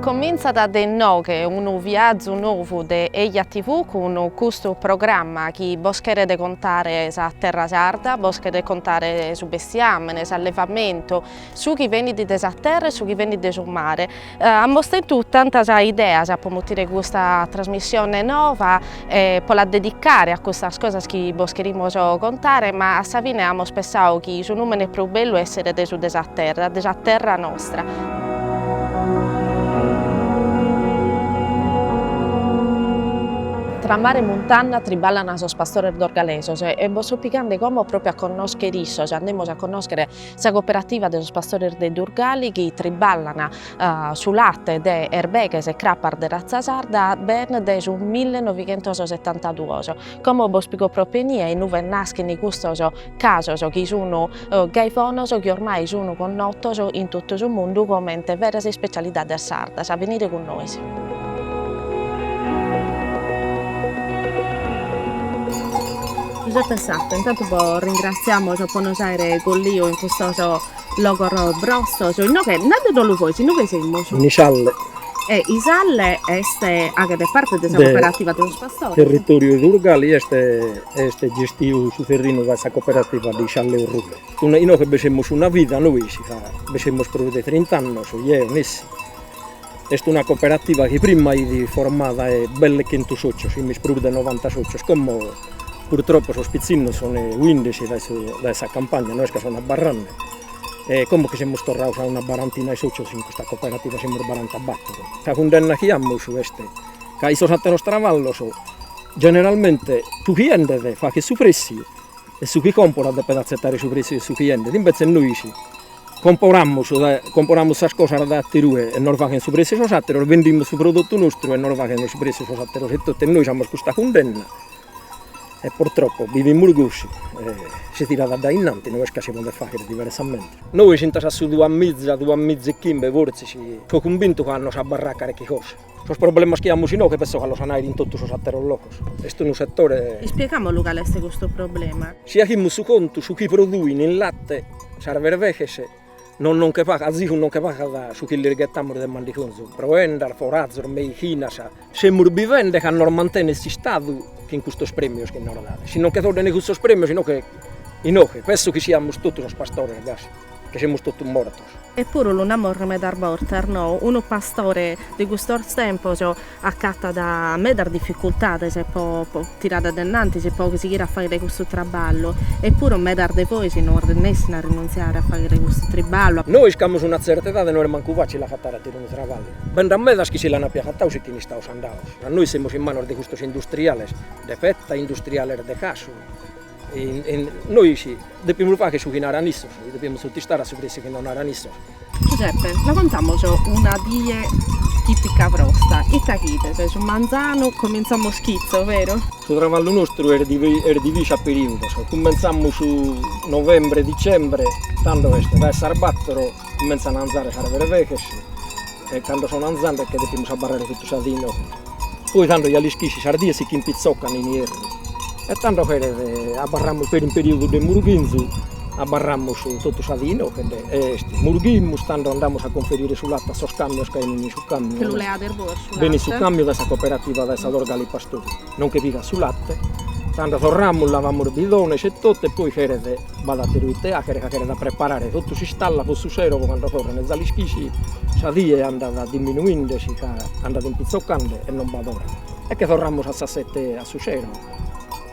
Comintzat de inoghe unu viazu novu de Eja TV cun custu programma chi bos cheret contare sa terra sarda, bos cheret contare su bestiamene, s'allevamentu, su chi benit de sa terra e su chi benit de su mare. Amos tentu tantas ideas po mutire custa trasmissione nova e po la dedicare a custas cosas chi bos cherimos contare ma a sa fine amos pessadu chi su numene prus bellu esseret su de sa terra, de sa terra nostra. Tra mare e muntanna triballan sos pastores dorgalesos e bos so pigande como propriu a connoschere issos, andemos a connoschere Sa cooperativa de sos pastores de Durgali chi triballan su late de berbeghes e crapas de ratza sarda bene dae su millenoighentosetantaduos. Como bos pigo propiamente inue naschen custos casos chi sun gai bonos chi ormai sun connotos in totu su mundu comente veras ispecialidades sardas. Benide cun nois. Giuseppe Sacco, intantu bos ringrassiamos po nos aere colliu in custos logos brostos, inoghe nande no lu fois, inoghe semus? In Isalle. E Isalle est, aghet parte de sa cooperativa de sos pastores? De territoriu de Durgali est est gestiu su terrinu dae sa cooperativa de Isalle e Orrule. Inoghe bi semus una vida nois ca bi semus prus de trint'annos, eo, nessi Est una cooperativa chi prima fit formada 'e belle chentu socios, imis prus de novanta socios, como purtroppo sos pitzinnos son fuinde dae su dae sa campagna, no est ca son abarrende, e como chi semus torrados a una barantina 'e socios in custa cooperativa, semus barantabattor. Sa cundenna chi amus est ca in sos atteros traballos generalmente su chi 'endet faghet su pressiu e su chi comporat depet azzettare su pressiu 'e su chi 'endet, imbetzes nois Comporamus comporamus sas cosas da atter'ue e nos faghen su prezzu sos atteros, vendimus su prodottu nostru e nos faghen su prezzu sos atteros e totu e nois amus custa cundenna e purtroppo bivimus gosi e si tirat a dae innanti no est ca si podet fagher diversamente. Nois fintzas a su duamiza duamiza e chimbe fortzis so cumbintu ca a nos abarrat carchi cosa Sos problemas chi amus inoghe penso ca los an a àere in totu sos àteros logos. Est unu setore. Ispiegamus lu cale est custu problema. Si aghimus su contu, su chi produin in late sas berveghes no non che pagat, azigu non che pagat su chi lis ghetamus de mandigonzu, proendas, forazos, meichinas. Semus bivende ca nos mantenet s'Istadu chin custos premios chi nos dat. Si non che toddene custos premios inoghe, inoghe penso chi siamus totu sos pastores gasi, che semus totu mortos. E puru lu namos medas bortas, no, unu pastore de custos tempos acatat medas dificultades po po tirare de innantis, po sighire a faghere custu traballu, e puru medas de bois no arrinessin a rinuntziare a faghere custu triballu. Nois chi amus una tzerta edade no est mancu facili agatare a tirare unu traballu, bi nd'at medas chi si l'an puru agatadu si che sun istaus andaus, ma nois semus in manos de custos industriales de petta e industriales de casu, Nois depimus fagher su chi naran issos, depimus sutistare a su presu chi nos naran issos. Giuseppe, la contamos una die tipica vostra, ite achides, su manzanu comintzamos chitzo, vero? Su travallu nostru est divisu a periudos, cumentzamus novembre dicembre, tando est a sas battoro cumentzan a anzare sas bereveches e cando sono anzende che depimus abarrare totu sa dì inoghe. Poi tando gai lischisi sas dies si che impitzocan in ierru e tando ch'est abarramus peri in periodu de murughinzu abarramus totu sa die inoche, murughimus tando andamus a conferire su late a sos camios chi venit su camiu Che lu leades bois su late? Benit su camiu dae sa cooperativa dae sa Dorgali Pastori, nos che pigat su late, tando torramus lavamus bidones e totu e poi cheret B'at àteru ite àchere ca cheret a preparare totu s'istalla pro su sero pro cando torrene, gai lischisi, sa die andat diminuende si che andat impitzocande e non b'at ora. E che torramus a sas sete a su sero,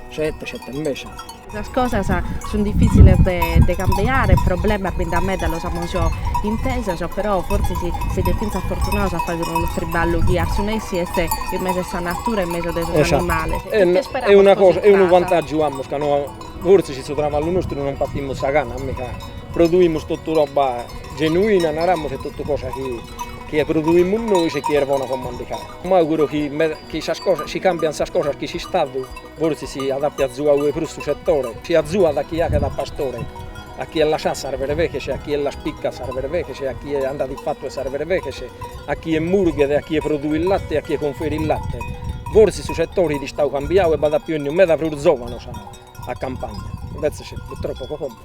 sete, sete e mesha. Sas cosas sun diffiziles de cambiare, problemas bi nd'at meda, los amus intesos, però fortzis side fintzas fortunados a fàghere unu triballu chi a su nessi est in mesu 'e sa natura e in mesu de sos animales. Est una cosa, est unu vantàgiu a su mancu, no Fortzis in su traballu nostru non patimus sa gana ca produimus totu roba genuina naramus e totu cosa chi che produimus nois e chi est bona po mandigai. M'auguro chi chi sas cosas si cambian sas cosas chi s'istadu fortzis si diat azuare de prus su setore, si azuat a chie aghet a pastore, a chie lassat sas berveghes, a chie las picat sas berveghes, a chie andat in fatu 'e sas berveghes, a chie murghet, a chie produit latte, a chie conferit latte, fortzis su setore fit istadu cambiau e b'aiat pius 'enidu meda prus zovanos a campagna. Invètzes purtropu po commu,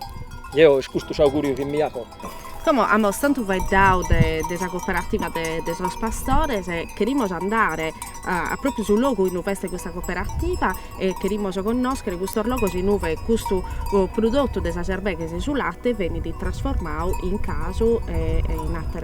eo est custu s'augùriu chi mi aco. Como amus tantu faeddadu de sa cooperativa de sos pastores, cherimus andare pròpiu a su logu in ue est custa cooperativa e cherimus connòschere custos logos in ue custu prudotu de sas erbeghes, su late benit trasformadu in casu e in ateras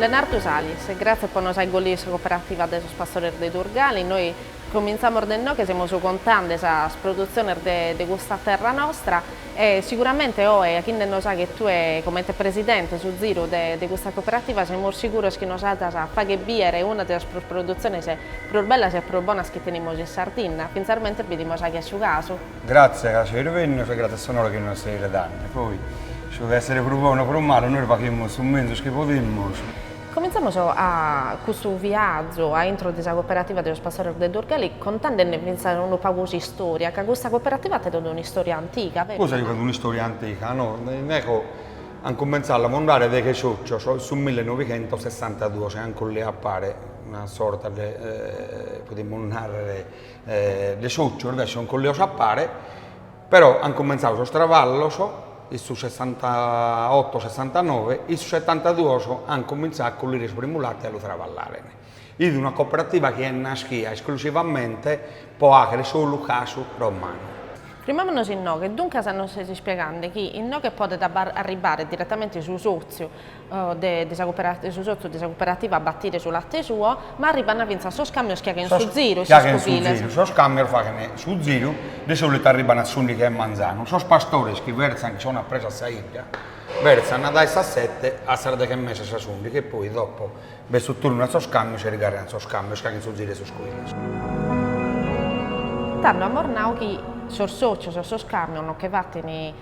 Lenardu Salis, Gratzias po nos acollire in sa cooperativa de sos pastores de Durgali, noi comintzamos de inoghe semus contande sas produtziones de de custa terra nostra e siguramente oe achinde·nos aghere tue comente presidente su ziru de de custa cooperativa semus siguros chi nos adas a fagher biere una de sas produtziones prus bellas e prus bonas chi tenimus in Sardinna, finarmente bidimus aghe su casu. Gratzie ca seis bennios e gratzie a s'onore chi nos seis redende. Poi, su de essere prus bonu o prus malu, nois faghimus su menzus chi podimus. Comintzamos a custu viazu a intro de sa Cooperativa de sos Pastores de Durgali contendene fintzas unu pagu s'istoria, ca custa Cooperativa at totu un'istoria antiga, verus? Cosa chi at un'istoria antiga, no? No, eco, an cumentzau a lamondare deche socios in su millenovighentosessantaduos e an collìu a pare una sorta de, podimus narrer, de sòcios si sun collìos a pare, però ant cumentzadu sos traballos in su sessantaoto sessantanove, in su setantaduos ant cumintzadu a collire su primu late e a lu traballare. Est una cooperativa chi est naschida esclusivamente pro àghere solu casu romanu. Frimamonos inoghe, duncas nos ses ispiegande chi inoghe podet arribare diretamente su sòtziu de su sotzu de sa cuperativa a batire su latte suo, ma arribant fintzas sos càmios chi aghent su ziru e sos cubiles. Sos càmios faghent su ziru, de sòlitu arribant a s'ùndighi 'e manzanu. Sos pastores chi bertzant chi sont a presu a sa 'idda, bertzant dae sas sete a sas deghe e mesa, sas ùndighi e poi, dopo, b'est su turnu 'e sos càmios e irgàrriant sos càmios chi aghent su ziru 'e sos cubiles. Tando at mornadu chi sos sòcios e sos càmios nos che batin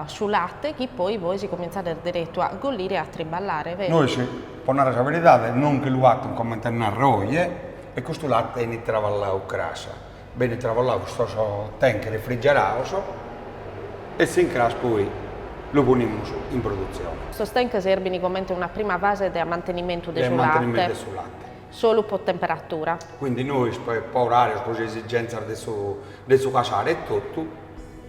su latte chi poi vois comintzades deretu a gollire e a triballare, beru? Nois, po narrer sa beridade, nos nche lu batun comente a narrer oje e custu latte enit traballau cras. Benit traballau, custos tank refrigerados e s'incras poi lu ponimus in produtzione. Sos tank serbin comente una prima fase de amantenimentu de su latte. De amantenimentu de su latte. Solu po temperatura. Quindi nois po orarios, po s'esigentzas de su casare etotu.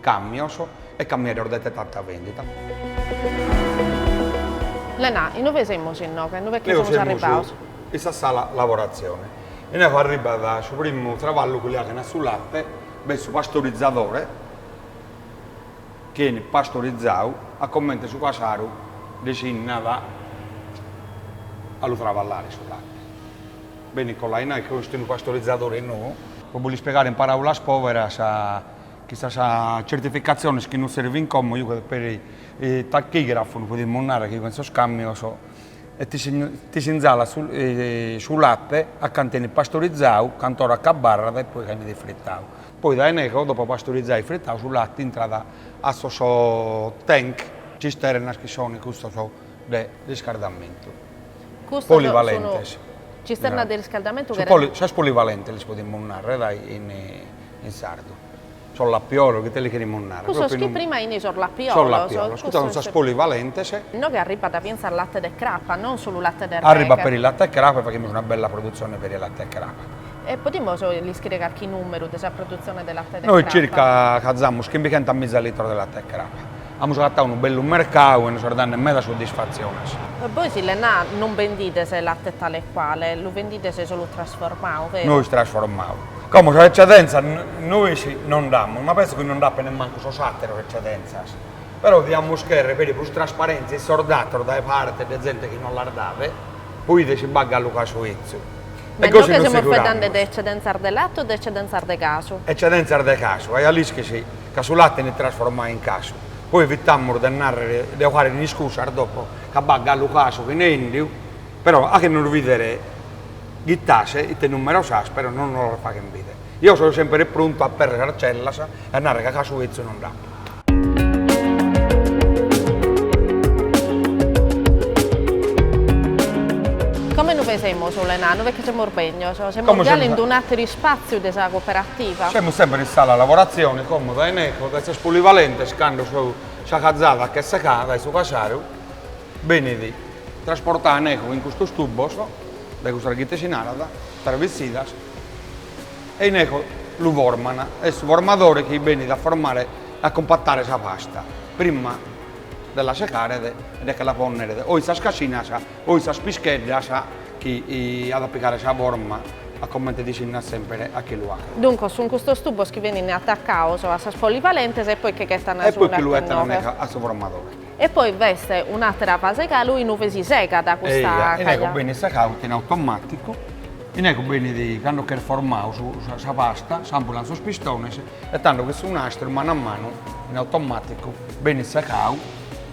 Càmmios e cammieros dae tanta vendita. Lena, inue semus inoghe? Inue chi semus arribados? In sa sala lavoratzione. Inoghe arribat su primu traballu chi li aghen a su late, b'est su pastorizadore chi 'enit pastorizadu a comente su casaru desìnnat a lu traballare su late. Benit colau in ie, chi est unu pastorizadore nou. Pro bos lu ispiegare in paràulas pòberas, Chin sas certificatziones chi nos servint como che unu tachigrafo, nois podimus narrer chi che in sos camios e ti ti s'inzalat su su latte a cantu 'enit pastorizadu cant'ora ch'abbarrat e poi canno 'enit ifritadu poi dae inego dopo pastorizadu e fritadu su latte intrat a sos tank cisternas chi sono custos de riscardamentu polivalentes cisternas de riscardamentu sas polivalentes lis podimus narrer dai in in sardu. Sos lapiolos, ite li cherimus narrer? Cussos chi prima fin sos lapiolos. Sos lapiolos, custas sunt sas polivalentes. Inoghe arribat fintzas latte de crapa, non solu latte de berveghe. Arribat peri latte 'e crapa e faghimus una bella produtzione peri latte 'e crapa. E podimus ischire carchi numeru de sa produtzione de latte de crapa? Nois circa cazamus chimbighentas miza litros de latte 'e crapa. Amus agatadu unu bellu mercadu e nos est dande meda soddisfatziones. Bois in Lennà non bendides latte tale e quale, lu bendides solu trasformadu, vero? Nois trasformamus. Como sas eccedentzas nois non nd'amus, ma penso chi non nd'apent nemmancu sos àteros eccedentzas, però diamus cherrer peri prus trasparentzia in sos datos dae parte de zente chi non los dat, pro 'idere si b'at galu casu 'etzu. E gosi non semus faeddende de eccedentzas de latte o de eccedentzas de casu? Eccedentzas de casu, eja l'ischis ca su latte benit trasformadu in casu, poi evitamus de narrer, de 'ocare iscusas dopo ca b'at galu casu chene 'endiu, però a che nos bider Ghitta a ischire ite numeros as però non no los faghen bidere. Eo so semper pruntu a aperrer sas cellas e a narrer ca casu 'ezzu non nd'apo. Como lu pesemus unu enanu? Perche semus begnos, semus già in un'ateru ispàtziu de sa cooperativa. Semus semper in sala lavoratzione como dae ineco dae sas polivalentes cando chi sa cazada ch'est secada dae su casaru benit trasportada ineco in custos tubos. Dae cussas ghite si narat travissidas e ineco lu forman, est su formadore chi benit a formare, a cumpatare sa pasta, prima 'e de la secaret e de che la ponneret o in sas cascinas o in sas pischeddas chi at a pigare sa forma a comente dhi si nat semper a che lu apo. Duncos sun custos tubos chi benin attaccados a sas polivalentes e poi che ch'est a nai su condatore. E poi che lu 'ettan a su formadore. E poi b'est un'àtera fase galu inue si segat custa cazada. Eja, innego benit secau totu in automàticu, innego benit cando ch'est formau su sa pasta, s'ampulan sos pistones e tando chi su nastru est manu a manu in automàticu benit secau.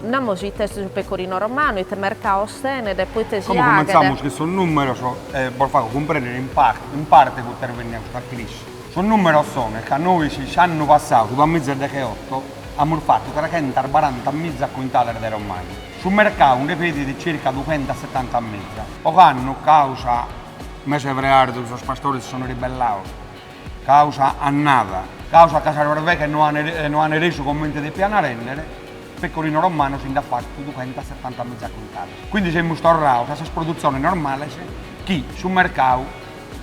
Naramus ite est su pecorino romano, ite mercau ostenet, proite si aghet. Como cumentzamus cun sos nùmeros e bos fago cumprèndere in in parte proite est bennida sa crisi. Sos nùmeros sono ca nois s'annu passau su duamiza e degheotto Amus fatu trechentas baranta miza cuintales de romanu. Su mercau nde pedit circa dughentas setanta miza. Ocannu, causa mese 'e freardu, sos pastores si sunt ribellados, causa annada, causa ca sas berveghes no ant no ant resu comente depiant rèndere, pecorino romano si nd'at fatu dughentas setanta miza cuintales. Quindi semus torrados a sas produtziones normales chi su mercau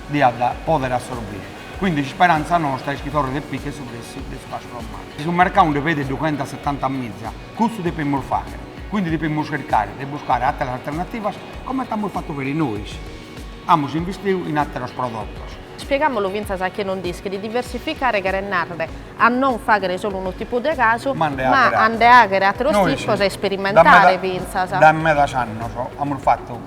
diat pòdere assorbire. Quindi s'isperanza nostra est chi torret e picchet su pressu de su casu romanu. Si su mercau nde pedet dughenta setanta miza, cussu depemus fagher, quindi depemus chircare de buscare atteras alternativas comente amus fattu peri nois, amus investiu in atteros prodottos. Spiegamolo fintzas a chie no nd'ischit, diversificare cheret narrere a non faghere solu unu tipu de casu, ma a nde aghere atteros tipos e isperimentare fintzas. Dae medas annos amus fattu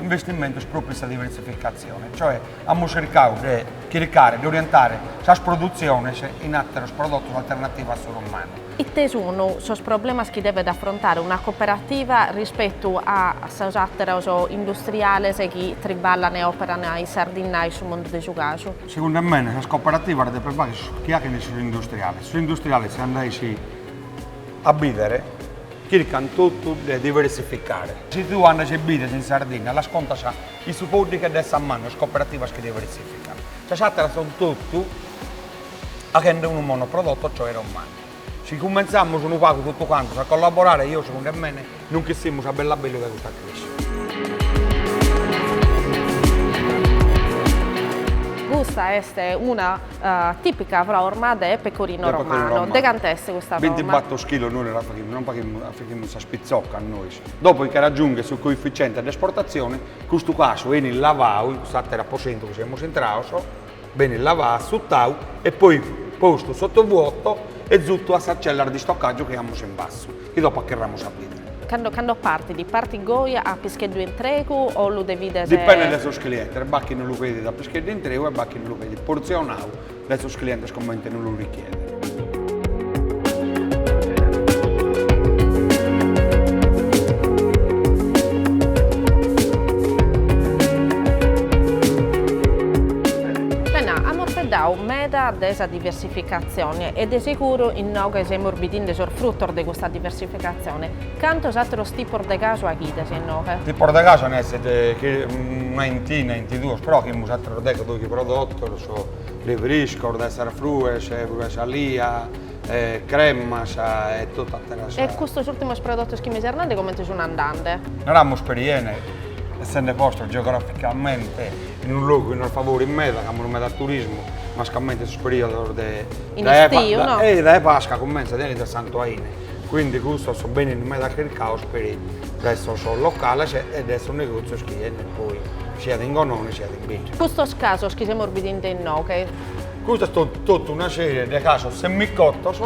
investimentos propriu in sa diversificazione, cioè Amus chircadu de chircare de orientare sas produtziones in àteros prodotos alternativos a su romanu. Ite sunt sos problemas chi devet afrontare una cooperativa rispetu a sos àteros industriales chi triballan e òperan in Sardinna e in su mundu de su casu? Segundu a mene sas cooperativas depent faghere su chi achent sos industriales. Sos industriales si andais a bìdere chircant totu de diversificare. Si tue andas e bides in Sardinna las contas In sos pòddighes de sa manu sas cooperativas chi diversifican, sas àteras son totu aghende unu monoprodotto cioè romanu. Si cumentzamus unu pagu totu cantos a collaborare eo segundu a mene non ch'essimus a bellu a bellu dae custa crisi. Custa est una tìpica frorma de pecorino romano. De cant'est custa frorma? Binti bator chilos nois la faghimus, non faghimus, achimus sas pitzoccas nois. Dopo chi raggiunghet su coefficiente de esportazione, custu casu enit lavau, in cust'ateru aposentu chi semus intraos, benit lavau, assuttau e poi postu sotto vuoto e zutu a sas cellas de istocagiu chi amus in bassu, chi dopo acherramus a bidere. Cando partit, partit goi a pischeddu intregu o lu devides? Dipendet de sos clientes, b'at chi no lu pedit a pischeddu intregu e b'at chi no lu pedit porzionau. de sos clientes comente no lu richiede. Bene, amus faeddau meda de sa diversificatzione e de seguru inoghe semus bidinde sos frutos de custa diversificatzione. Cantos àteros tipos de casu aghides inoghe? Tipos de casu nd'est una 'intina, 'intiduos, però achimus àteros deghe o doighe prodotos Friscos dae sas frues, frue salia, cremas e totu ateras. E custos ùrtimos prodotos chi mi ses nende comente sun andende? Naramus peri 'ene, essende postos geograficamente in unu logu chi nos favorit meda, chi amus meda turismu, mascamente in sos periodos de in istiu no? E dae Pasca cumentzat e finit a Santu Aine, quindi custos benin meda chircaos peri dae sos locales e dae sos negozios chi 'enit poi siat in Gonone siat in Binge. Custos casos chi semus bidende inoghe. Custa est totu una sèrie de casos semicotos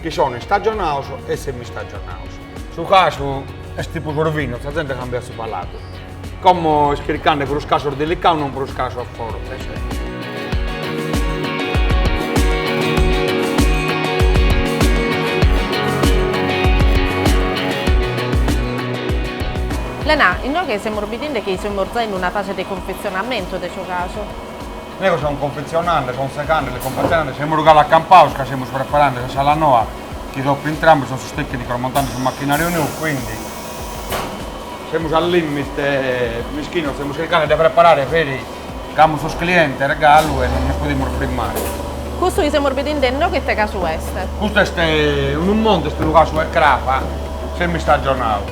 chi sono istagionados e semistagionados. Su casu est tipu sorvinu, sa zente cambiat su paladu. Como est chircande prus casos delicados non prus casos fortes. Lena, Inoghe semus bidende chi semus giai in una fase de confetzionamentu de su casu. Inoghe semus confetzionende, son segande, e confetzionende, semus galu acampados ca semus preparende sa sala noa chi dopu intramus, son sos tècnicos montende su machinàriu nou, quindi, semus a limite, mischinos, semus chircande de preparare peri Ca amus sos cliente regalu e non nos podimus frimmare. Custu chi semus bidinde inoghe ite casu est? Custu est unu montu est unu casu 'e craba semi-istagionau.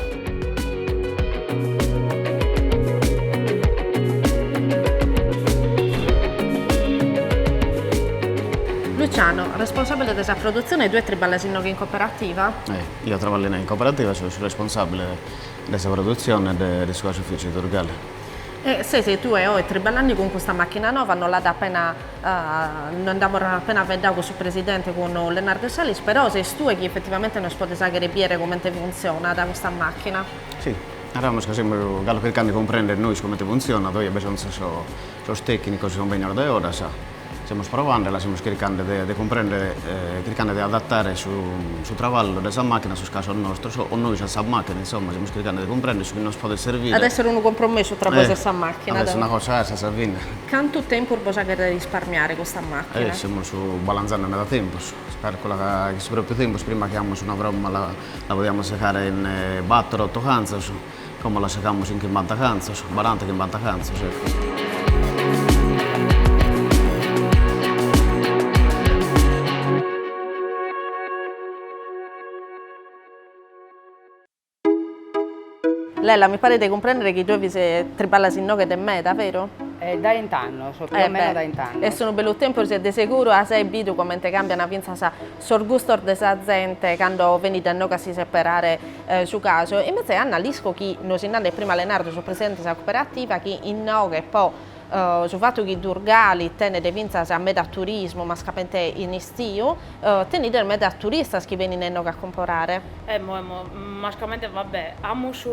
Luciano, responsabile de sa produtzione, tue triballas inoghe in coperativa? E, eo traballo inoghe in coperativa, so su responsabile de sa produtzione de su casufìciu Durgale. E sese tue oe triballandi cun custa machina nova, nos l'at appena no nd'amus appena faeddau cun su presidente cun Leonardo Salis, però ses tue chi effettivamente nos podes aghere biere comente funtzionat custa machina. Si, naramus ca semus galu chircande 'e cumprender nois comente funtzionat, oe bi son giai sos tecnicos chi son bennidos dae oras, Semus provende e la semus chircande de de cumprender e chircande de adattare su su traballu de sa machina a sos casos nostros o nois a sa machina, insomma semus chircande de cumprender su chi nos podet servire. At esser unu compromessu tra bois e sa machina. At esser una cosa a sa fine. Cantu tempus bos aghet risparmiare custa machina? Semus balanzende meda tempus, si calculat ca in su propriu tempus prima chi amus una fromma la la podiamus segare in bator otto cantzos, Como la segamus in chimbanta cantzos, baranta chimbanta cantzos, ecco. Lella, mi paret de cumprendere chi tue fis triballas inoghe de meda, vero? E dae bint'annos, so più o meno dae bint'annos. Est unu bellu tempus e de seguru as bidu comente cambian fintzas sos gustos de sa zente cando benit a inoghe a si seperare su casu, invece Anna l'isco chi nos fit nande prima Leonardo su presidente de sa cooperativa chi innoghe po su fatu chi Durgali tenet fintzas meda turismu mascamente in istiu, tenides meda turistas chi benin a innoghe a comporare. Emmo emmo, mascamente va bè, amus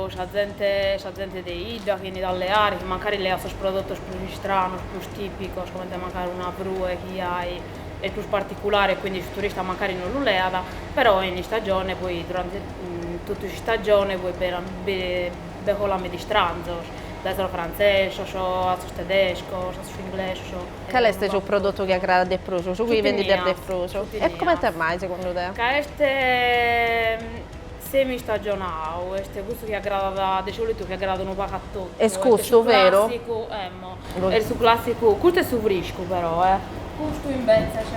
sa zente sa zente de idda chi 'enit a leare chi mancari leat sos prodotos prus istranos, prus tipicos comente mancari una frue chi ai est prus particulare e quindi su turista mancari non lu leat, però in istagione poi durante totu s'istagione poi bi colat meda istranzos, dae sos frantzesos a sos tedescos, a sos inglesos. Cale est su prodotu chi agradat de prus, su chi vendides de prus? Su tinea. E comente mai segundu te? Ca est semi istagionau, est cussu chi agradat, de solitu chi agradat unu pagu a totu, est custu, beru? Est su clàssicu, custu est su friscu però eh. Custu imbetzes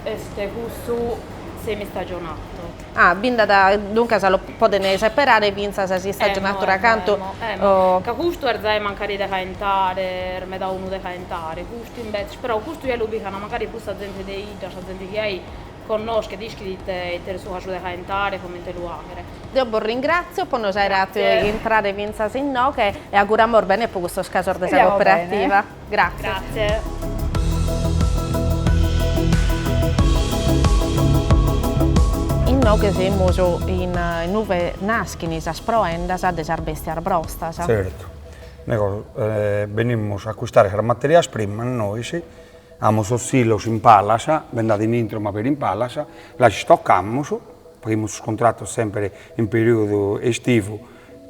est cussu semi-istagionatu. Ah, bi nd'at, duncas lo podent seperare fintzas s'istagionatura cantu. Emmo, emmo, ca custu est zai mancari de caentare, est meda unu de caentare, custu imbetzes, però custu ja lu pigant mancari prus sa zente de 'idda, sa zente chi ai Connoschet, ischit ite est su casu de caentare, comente lu haghere. Deo bos ringratzio po nos aere hatu intrare fintzas inoghe e auguramos bene po custos casos de sa Cooperativa. Grazie. Inoghe semus inue naschin sas proendas de sas bestias brostas. Zertu. Benimus a acquistare sas materias primas nois. Amus sos silos in palas, bi nd'at in intro ma peri in palas, las istocamus, faghimus sos contratos semper in periodu estivu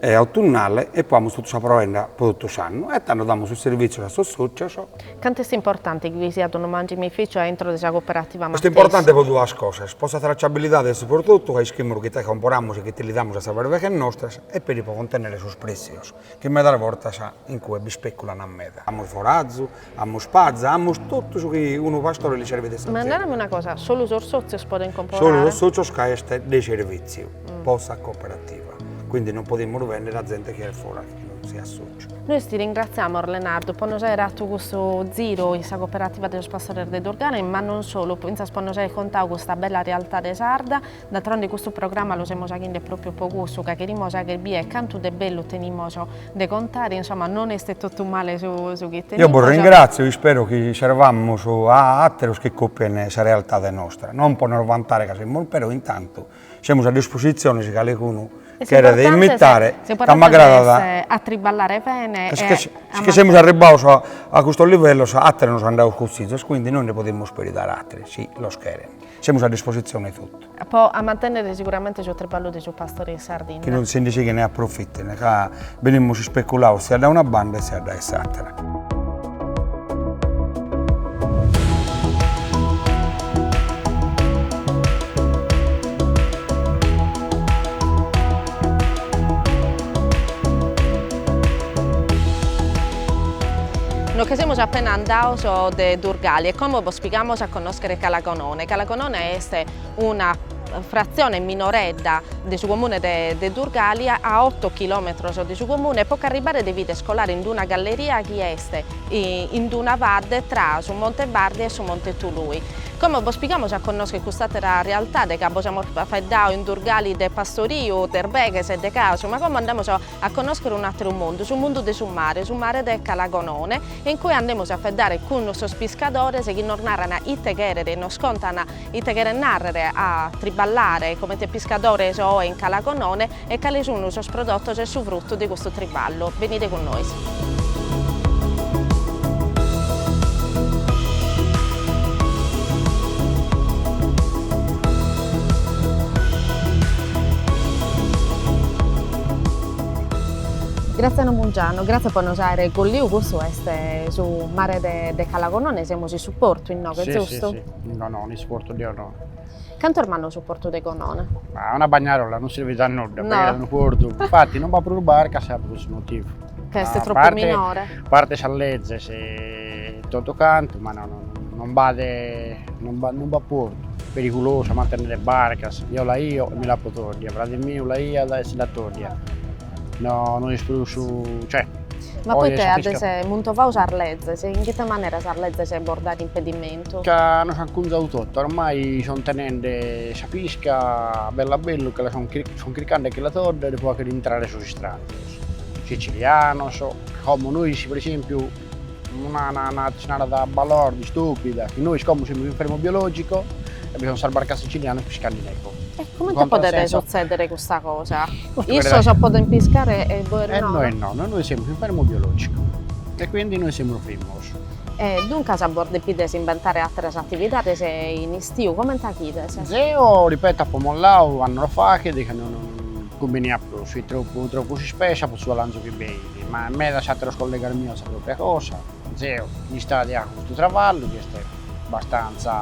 e autunnale e poi amus totu sa provenda po totu s'annu e tando damus sos servizios a sos socios. Cantu est importante chi bi siat unu mangimificio a intro de sa cooperativa matessi? Est importante po duas cosas, po sa tracciabilidade de su prodotu ca ischimus ite comporamus e ch'ite li damus a sas berbeghes nostras e peri po contennere sos prezios chi medas bortas in cue bi speculan meda. Amus forazu, Amus paza, amus totu su chi unu pastore li servit de s'azienda. Ma narami una cosa, solu sos sotzios podent comporare? Solu sos sotzios ca est de servitziu po sa cooperativa, quindi non podimus bender a zente chi est foras chi non siat sotziu. Nois ti ringratziamus Lenardu po nos aer atu custu ziru in sa cooperativa de sos pastores de Durgale e ma non solu, fintzas po nos aer contadu custa bella realtade sarda. D'altronde custu programma lu semus aghinde pròpiu po cussu, ca cherimus agher bier cantu de bellu tenimus de contare, insoma non est totu male su su chi tenimus. Eo bos ringratzio, ispero chi servamus a àteros chi còpien sa realtade nostra, non po nos vantare ca semus però intantu semus a dispositzione si calicunu cheret imitare ca m'agradat, a triballare bene ca si che semus arribbados a custos livellos àteros nos an dadu cussizos, quindi nois nde podimus peri dare a àteros si los cheren. Semus a dispositzione 'e totu. Po a mantennere siguramente su triballu de su pastori in Sardinna. Chi non si ndi sighene a approfitare, ca venimus ispeculados siat da una banda e siat dae s'àtera. Nos che semus appena andados de Durgali e como bos pigamos a connoschere. Scre Calagonone. Calagonone est una fratzione minoredda de su comune de Durgali, a oto chilòmetros de su comune, po ch'arribare devides colare in d-una galleria chi est in d-una badde tra su Monte Bardi e su Monte Tului. Como bos pigamus a connoscher cust'àtera realtade ca bos amus faeddadu in Durgali de pastoriu, de erbeghes e de casu, ma como andamus a connoschere un'atteru mundu, su mundu de su mare, su mare de Calagonone, e in cue andamos a feddare cun sos piscadores chi nos narran ite cheret, nos contan ite cheret narrere a triballare comente piscadores oe in Calagonone e cale sun sos prodottos e su fruttu de custu triballu. Venide cun nois. Grazie Mungianu, grazie po nos aere colliu custu est su mare de Calagonone semus in su portu innoghe zustu? Si si si in Gonone in su portu de Gonone. Cantu est mannu su portu de Gonone? Ma una bagnarola non sirvit a nudda no est unu portu infatti non b'at prus barcas est pro cussu motivu. Ca est tropu minore. A parte sas lezes e totu cantu, ma no non b'at non b'at non b'at portu. Perigulosu a mantenere barcas, eo l'aio e mi l'apo tòddia, frade miu l'aiat e si l'at tòddia, no no est prus cioè. Ma poite adessu as muntovadu sas lezes e in ite manera sas lezes bos dant impedimentu? Ca nos ant cunzadu totu, ormai son tenende sa pisca bellu a bellu che la son son chircande che la tòddere pro fagher intrare sos istranzos. Sicilianos, como nois pro esempiu una cosa balorda, stupida, chi nois como semus in fermu biologico e bi sono sas barcas sicilianas piscande inoche. E comente podet sutzedere custa cosa? Issos podent piscare e bois no? E nois no, nois nois semus in fermu biologico e quindi nois semus frimos. E duncas bos depides imbentare atteras attividades in istiu, comente faghides? Zeo, ripeto, apo molladu annos faghet de cando non Cumbiniat prus, fit tropu, tropu s'ispesa pro su alanzu chi b'eit, ma medas àteros collegas mios sa pròpria cosa. Zeo, m'istadi a custu traballu chi est bastantza,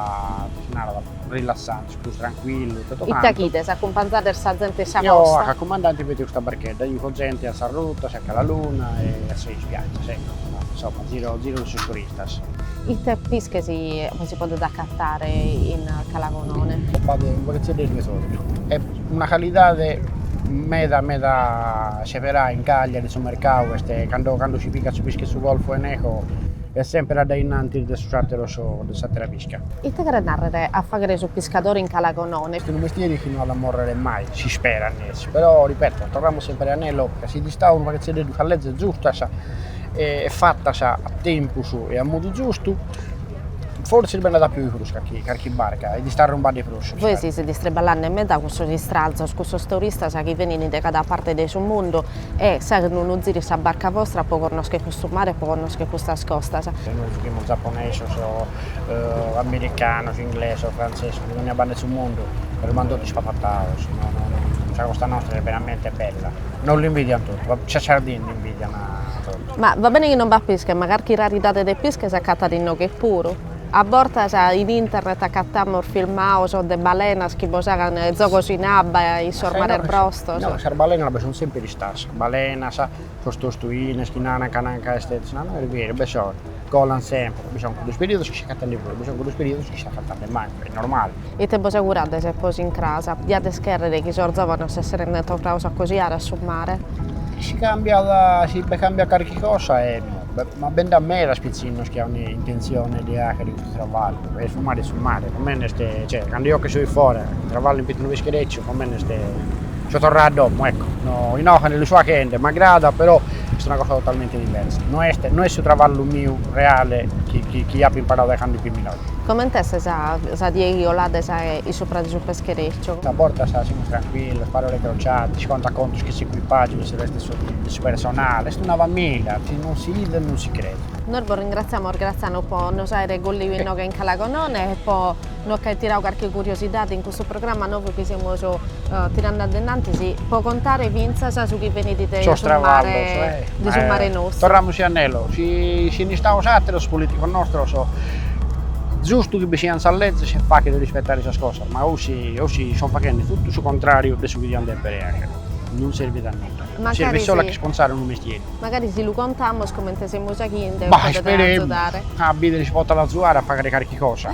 ite si narat, rilassante, prus trancuillu e totu cantu. Ite faghides, acumpanzades sa zente in sa costa? Eo a cumandante de custa barchedda, jùco zente a sas rutas e a calaluna e a sas ispiaggias, ecco, insomma, ziro ziro de su golfu. Cuntas. Ite pische si si podet acatare in Calagonone? B'at in Podetzeddesu de s'Ortu, e una calidade meda meda seperà in Cagliari, su mercau est cando cando si pigat su pische 'e su Golfo 'e Neho est semper addainnantis de sos atteros de s'attera pisca. Ite cheret narrer a faghere su piscadore in Calagonone? Est unu mestieri chi no at a morrere mai, si sperat nessi, però ripeto torramus semper a inelo ca si fit istau unu paghetzeddeddu cun lezes zustas e fatas a tempus e a modu giustu, forsis b'est andada a pioi prus carchi carchi barca est arrumbada de prus. Bois sezis traballende meda cun sos istranzos, cun sos turistas chi benint de cada parte de su mundu e s'aint unu ziru in sa barca vostra po connoschere custu mare e po connoschere custas costas. E nois zuchimus zaponesos o americanos, inglesos, frantzesos, de dònnia banda 'e su mundu, nos b'ant totu ispantados, no no sa costa nostra est veramente bella, nos l'invidiant totu, sa Sardinnia Ma va bene chi non b'at pische, ma carchi raridade de pische s'acatat inoghe puru. A bortas in internet acatamus filmaos de balenas chi bos aghent zogos in abba in sos mares brostos. No, sas balenas b'est sunt semper istadas, sas balenas, sos tostuines chi naran ca est, no est beru, b'est solu Colan sempre, bi son cuddos periodos chi s'acatan de prus, bi son cuddos periodos chi s'acatan de mancu, est normale. Ite bos augurades po s'incrasa? Diades chèrrere chi sos zòvanos s'esserent torrados a acosiare a su mare? Si cambiat, si b'est cambiada carchi cosa emmo, ma bi nd'at medas pitzinnos chi aun intentzione de àghere custu travallu e su mare est su mare, comente est, cioè, cando eo che so in fora, travallo in pitzu 'e unu pescherecciu, comente est So torrau a domo, ecco, no, inoghe nde lu so aghende, m'agradat, però est una cosa totalmente diversa. No est, no est su traballu miu reale chi, chi, chi appo imparau dae candu fia minore. Comente est sa, sa die chi colades in supra de su pescherecciu? A bortas semus trancuillos, parole crociate, si contat contos chin s'equipaggiu su restu de su personale, est una famìlia, si non si idet non si cret. Nois bos ringraziamus Graziano po nos aere colliu inoghe in Calagonone e po. Nos ch'àere tirau carchi curiosidadi in custu programma novu chi semus tirandi addennantis po contare fintzas su chi benit de su mare de su mare nostru. Torramus a inelo, si fint istaus ateros politicos nostros zustu chi bi sian sas lezis e fàghere rispettare sas cosas, ma osi osi son faghendi tuttu su contrariu de su chi diant debere agher. Non servit a nudda. Servit solo a ch'isponzare unu mestieri. Magari si lu contamus comente semus aghende podet agiudare. Bah, isperemu, a bidere si potat azuare a faghere carchi cosa.